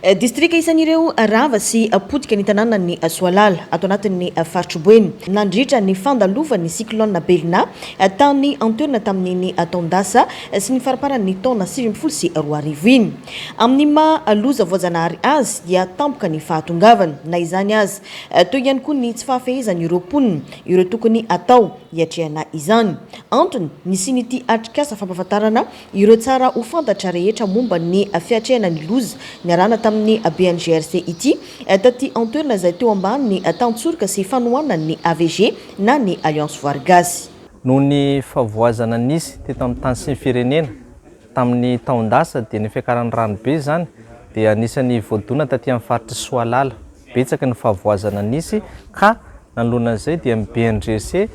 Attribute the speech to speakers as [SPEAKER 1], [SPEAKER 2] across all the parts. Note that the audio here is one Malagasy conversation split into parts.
[SPEAKER 1] Distrika isan'ireo rava sy potika ny tanànan'i Soalala, ato anatin'ny faritr'i Boeny, nandritra ny fandalovan'ny cyclone Belina, tany an-toerana tamin'iny taon-dasa sy ny faramparan'ny taona sivy ambin'ny folo sy roa arivo iny. Amin'ny maha loza voajanahary azy dia tampoka ny fahatongavany. Na izany aza, toy ihany koa ny tsy fahafehezan'ireo mponina ireo tokony atao hiatrehana izany. Antony, nisian'ity atrikasa fampahafantarana Ireo tsara ho fantatra rehetra momba ny fiatrehana ny loza niarahana tamin'ny BNGRC ity, taty an-toerana izay teo ambany tantsoroka sy fanohanan'ny AVG na ny Alliance Voary Gasy. Noho ny
[SPEAKER 2] fahavoazana nisy teto amin'ny tany sy ny firenena tamin'ny taon-dasa dia ny fiakaran'ny rano be izany dia anisan'ny voadona taty amin'ny faritr'i Soalala. Betsaka ny fahavoazana nisy ka nanoloana an'izay dia ny BNGRC,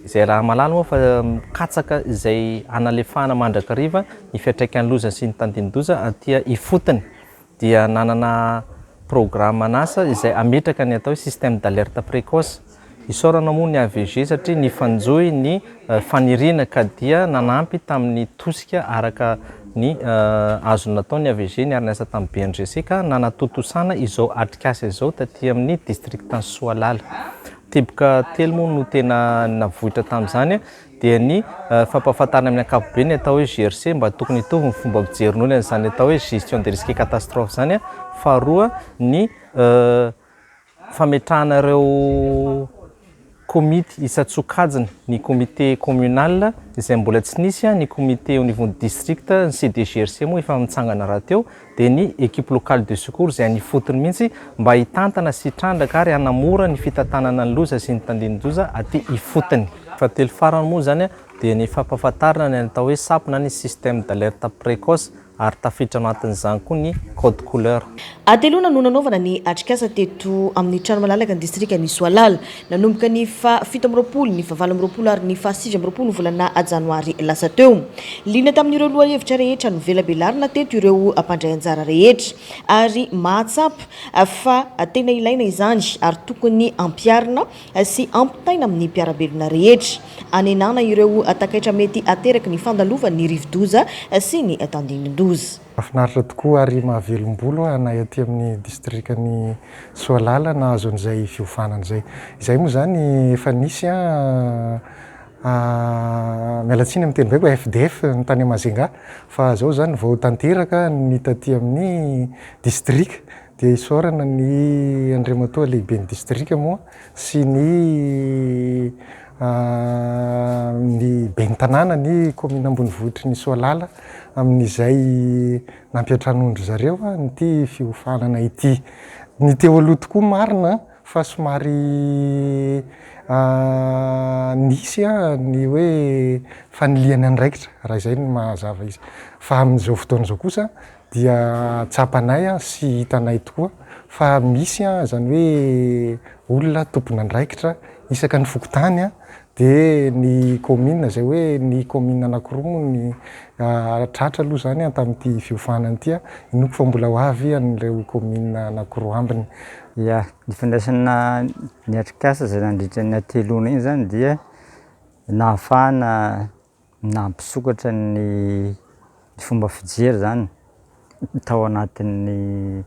[SPEAKER 2] izay raha mahalala moa fa mikatsaka izay hanalefahana mandrakariva ny fiantraikan'ny loza sy ny tandindoza aty ifotony dia nanana programme an'asa izay hametraka ny atao hoe système d'alerte précoce. Isaorana moa ny AVG satria nifanjohy ny faniriana ka dia nanampy tamin'ny tosika araka ny azo natao ny AVG niara-niasa tamin'ny BNGC ka nanatontosana izao atrikasa izao taty amin'ny district-n'i Soalala. Teboka telo moa no tena navoitra tamin'izany dia ny fampahafantarana amin'ny ankapobeny ny atao hoe GRC mba tokony hitovy ny fomba fijerin'olona an'izany atao hoe gestion des risques catastrophes izany, faharoa ny fametrahana ireo komity isan-tsokajiny, ny comité communal izay mbola tsy nisy, ny comité au niveau district, ny CDGRC moa efa mitsangana rahateo. dia ny Equipe Locale de Secours izay any ifotony mihitsy mba hitantana sy hitrandraka ary hanamora ny fitantanana ny loza sy ny tandindoza aty ifotony. Fahatelo farany moa izany dia ny fampahafantarana ny atao hoe SAP na ny Système d'Alerte Précoce ary tafiditra ao anatin'izany koa ny Code Couleur. Hateloana no
[SPEAKER 1] nanaovana ny atrikasa teto amin'ny trano malalaka ny distrikan'i Soalala. Nanomboka ny faha fito amby roapolo, ny faha valo amby roapolo ary ny faha sivy amby roapolo volana janoary lasa teo. Liana tamin'ireo lohahevitra rehetra novelabelarina teto ireo mpandray anjara rehetra ary mahatsapa fa tena ilaina izany ary tokony ampiharina sy ampitaina amin'ny mpiara-belona rehetra hanenana ireo takaitra mety ateraky ny fandalovan'ny rivodoza sy ny tandindon-doza. Mahafinaritra tokoa
[SPEAKER 3] ary mahavelom-bolo aho na ety amin'ny distrikan'i Soalala nahazo an'izay fiovana izay. Izay moa izany efa nisy an, miala tsiny amin'ny teny baiko, FDF ny tany Majunga, fa izao izany vao tanteraka ny taty amin'ny distrika dia isaorana ny Andriamatoa Lehiben'ny distrika moa sy ny. ny ben'ny tanàna ny kaominina ambonivohitry ny Soalala amin'izay nampiantranoan-dry zareo an'ity fiofanana ity. Ny teo aloha tokoa marina fa somary nisy ny hoe fanilihana andraikitra raha izay no mazava izy fa amin'izao fotoana izao kosa dia tsapanay sy hitanay tokoa fa misy izany hoe olona tompon'andraikitra isaka ny fokontany dia ny kaominina izay hoe ny kaominina anakiroa moa ny tratra aloha izany tamin'ity fiofanana ity, inoako fa mbola ho avy an'ireo kaominina anakiroa ambiny. Ia, ny
[SPEAKER 4] fandraisana ny atrikasa izay nandritra ny hateloana iny izany dia nahafahana Nampisokatra ny fomba fijery izany tao anatin'ny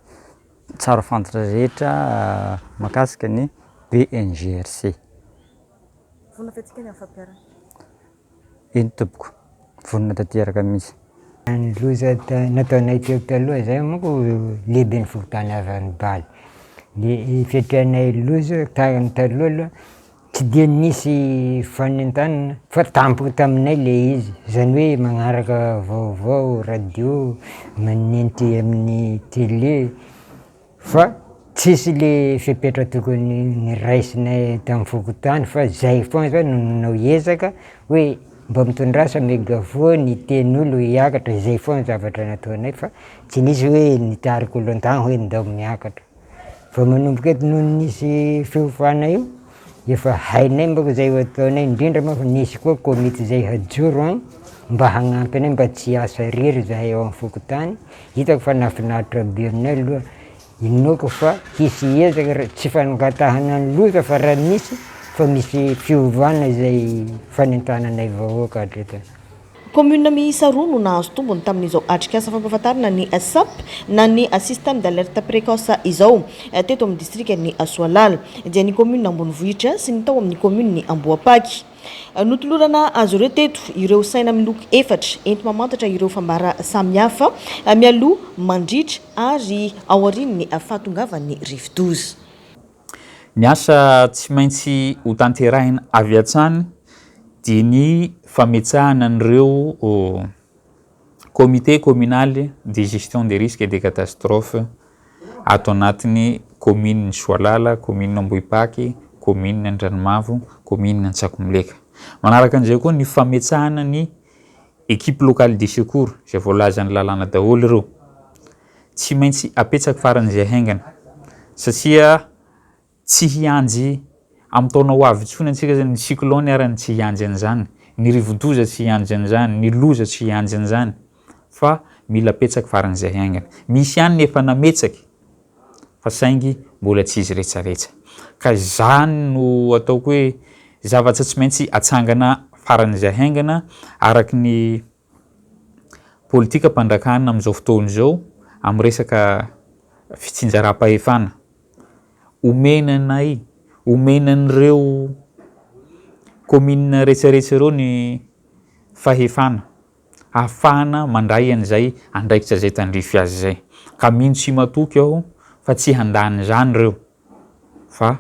[SPEAKER 4] tsara fantatra rehetra mahakasika ny BNGRC.
[SPEAKER 1] Vonona fihetsika ny amin'ny fampiharana.
[SPEAKER 4] Eny tompoko, vonona tanteraka mihitsy. Ny loza
[SPEAKER 5] nataonay teo taloha izay manko lehiben'ny fokontany Avanibalo. Ny fiatrehanay loza taloha aloha Tsy dia nisy fanentanana fa tampoka taminay le izy, zany hoe magnaraka vaovao radio, manenty amin'ny tele fa tsisy le fepetra tokony niraisinay tam fokontany fa zay foana zany no nanao ezaka hoe mba mitondrasa megavoa ny tenin'olo hiakatra, zay foana zavatra nataonay fa tsy nisy hoe nitarika olo an-tany hoe ndao miakatra. Vao manomboka eto no nisy fiofana io, efa hainay manko zay ho ataonay, indrindra moa fa nisy koa komity zay hajoro an, mba hagnampy anay mba tsy hiasa rery zahay ao am fokontany, hitako fa nahafinaritra be aminay aloha, inoako fa hisy ezaka ra- tsy fangatahana ny loza fa raha misy fa misy fiovana zay fanentananay vahoaka hatreto. Commune
[SPEAKER 1] miisa roa no nahazo tombony tamin'izao atrikasa fampahafantarana ny Sap na ny système d'alerte précoce izao, teto amin'ny distrikan'i Soalala, dia ny commune Ambonivohitra sy ny tao amin'ny commune Ambohipaky. Notolorana azy ireo teto ireo saina miloko efatra enti-mamantatra ireo fambara samihafa mialoha, mandritra ary aorian'ny fahatongavan'ny rivodoza.
[SPEAKER 6] Ny asa tsy maintsy hotanterahina avy hatrany dia ny fametsahana an'ireo Comité communal de gestion des risques et des catastrophes ato anatin'ny kaominin'i Soalala, kaominina Ambohipaky, kaominina Andranomavo, kaominina Antsakomileka. Manaraka an'izay koa ny fametsahana ny Equipe locale de secours, izay voalazan'ny lalàna daholo ireo. tsy maintsy apetsak faran'izay haingana satria tsy hianjy amin'ny taona ho avy intsony antsika zany ny cyclone arany tsy hianjy an'izany ny rivodoza tsy hianjy an'izany ny loza tsy hianjy an'izany fa mila apetsak faran'izay haingana misy ihany ny efa nametsak fa saingy mbola tsy izy retsaretsa ka izany no ataoko hoe zavatra tsy maintsy atsangana faran'izay haingana araky ny politikam-panjakana amin'izao fotoana izao amin'ny resaka fitsinjaram-pahefana. Omena anay, omena an'ireo kaominina rehetrarehetra ireo ny fahefana ahafahana mandray an'izay andraikitra izay tandrify azy izay. Ka mino sy matoky aho fa tsy handany izany ireo. fa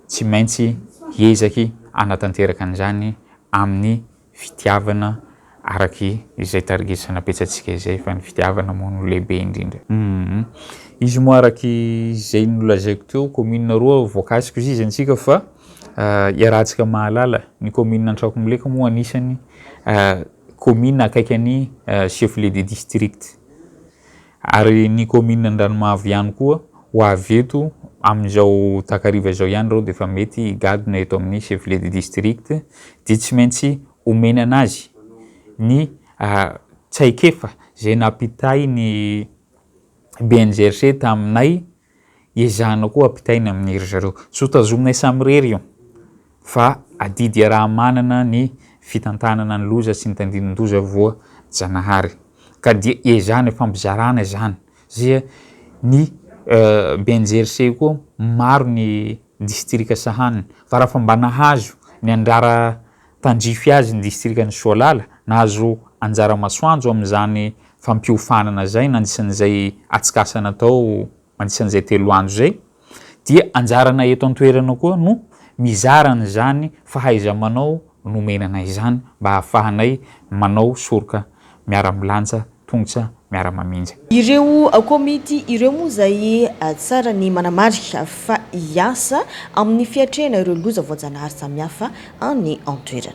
[SPEAKER 6] tsy maintsy hiezaky hanatanteraka an'izany amin'ny fitiavana araky izay tarigesana betsatsika izay fa ny fitiavana moa no lehibe indrindra. Humm. Izy moa araky izay nolazaiko teo commune roa voakasiko ziza antsika fa iarahantsika mahalala ny commune Antrakomileka moa anisany commune akaiky an'i chef-lieu de district. Ary ny kaominina Andranomavo ihany koa, ho avy eto amin'izao takariva izao ihany ireo dia efa mety higadona eto amin'ny chef lieu de district dia tsy maintsy omena an'azy ny traikefa izay nampitain'ny BNGRC taminay Ezahina koa ampitaina amin'ny ry zareo. Tsy ho tazominay samirery io fa adidy iaraha-manana ny fitantanana ny loza sy ny tandindon-doza voa-janahary ka dia ezahina ifampizarana izany zia ny BNGRC koa maro ny distrika sahaniny fa raha fa mba nahazo ny andrara Tandrify azy ny distrikan'i Soalala, nahazo anjara masoandro amin'izany fampiofanana izay nandrisan'izay atsikasan atao mandrisan'izay telo andro izay, dia anjaranay eto an-toerana koa no mizara an'izany fahaiza-manao nomena anay izany mba hahafahanay manao soroka miara-milanja tongotra miara-mamindra. Ireo
[SPEAKER 1] komity ireo moa izay tsara ny manamarika fa hiasa amin'ny fiatrehana ireo loza voajanahary samihafa any an-toerana.